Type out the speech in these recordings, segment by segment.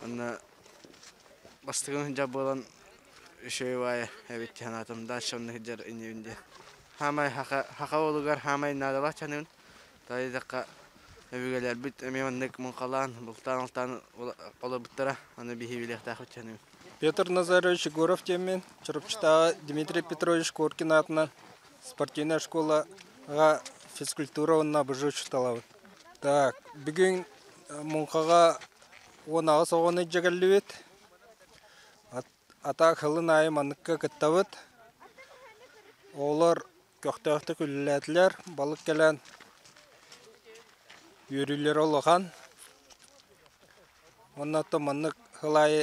Уонна бастакы сынньдьах буолан үчүгэй баайа эбит дии санаатым дача онно сылдьар инибин диэн саамай саха уолугар саамай наадалаах дьаныгын таайдахха өбүгэлэрбит эмиэ маннык муҥхалаан бултаан алтаан олорбуттара аны биһиги билиэхтээхпит дьаныгын Петр Назарович Егоров диэммин Чурапчытааҕы Дмитрий Петрович Коркин аатынан спортивная школаҕа физкультура уонна обожжу учууталабын Так, бүгүн муҥхаҕа уон аҕыс оҕону дьэгэллибит. Атаак сылын аайы манныкка кыттабыт. Оҕолор көхтөөхтүк үлэлээтилэр. Балык кэлэн үөрүүлэрэ улахан. Онно то маннык сыл аайы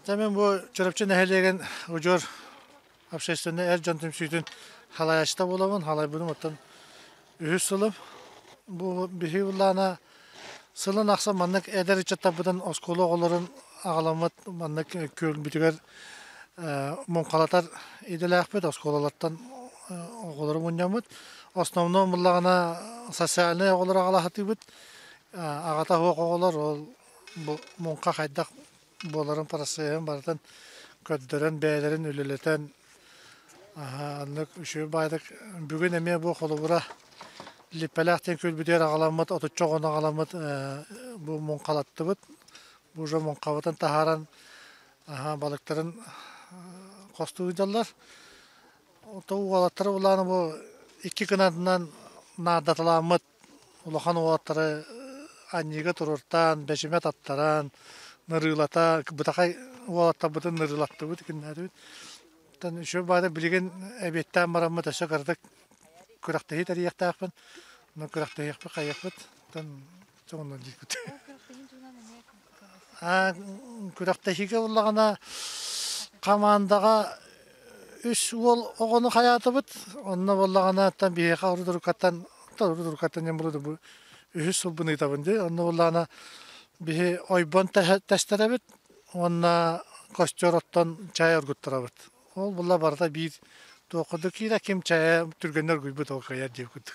Дьэ, мин бу Чурапчы нэһилиэгин удьуор общественнай эр дьон түмсүүтүн халайачыта буоламын, халайбытым оттон үһүс сылым. Бу биһи улаана сылын ахсын маннык эдэр ыччаттарбытын оскуола оҕолорун аҕаламмыт маннык күөлбүтүгэр муҥхалатар идэлээхпит, оскуолалартан оҕолору мунньаммыт. Основном буллаҕына социальнай оҕолору аҕалаһытыыбыт. Аҕата суох оҕолор ол бу муҥха хайдах буоларын процеһын барытын көрдөрөн бэйэлэрин үлэлэтэн аннык үчүгэй баайдык бүгүн эмиэ бу холобура липпэлээх диэн күлбүтүгэр аҕаламмыт отучча оҕону аҕаламмыт бу муҥхалаттыбыт бу уже муҥхабытын таһааран балыктарын хостуу дьаллар то уолаттара улаана бу икки кынатынан наадаталаммыт улахан уолаттары анньыыга туруортаан, бэчимэ таттаран, нарыылата, бытахай уолаттарбытын нарыылаттыбыт, икиннээдибит. Оттон еще баара билигин эбиэттээн бараммыт өссө кыратык күрэхтэһии тэрийиэхтээхпин. Онон күрэхтэһиэхпит, хайыахпыт, оттон соҕунан диэкпит. күрэхтэһиигэ ыллаҕына хамаандаҕа үс уол оҕону хайаатыбыт онно буоллаҕына биһиэхэ орудурукаттан орудурукаттан диэн буолуо бу үһүс сылбын ыытабын дии онно буоллаҕына биһи ойбон тэстэрэбит уонна костер оттон чай оргуттарабыт ол буолла барыта биир туохха да киирэ ким чайа түргэннэр оргуйбут ол кыайар диир курдук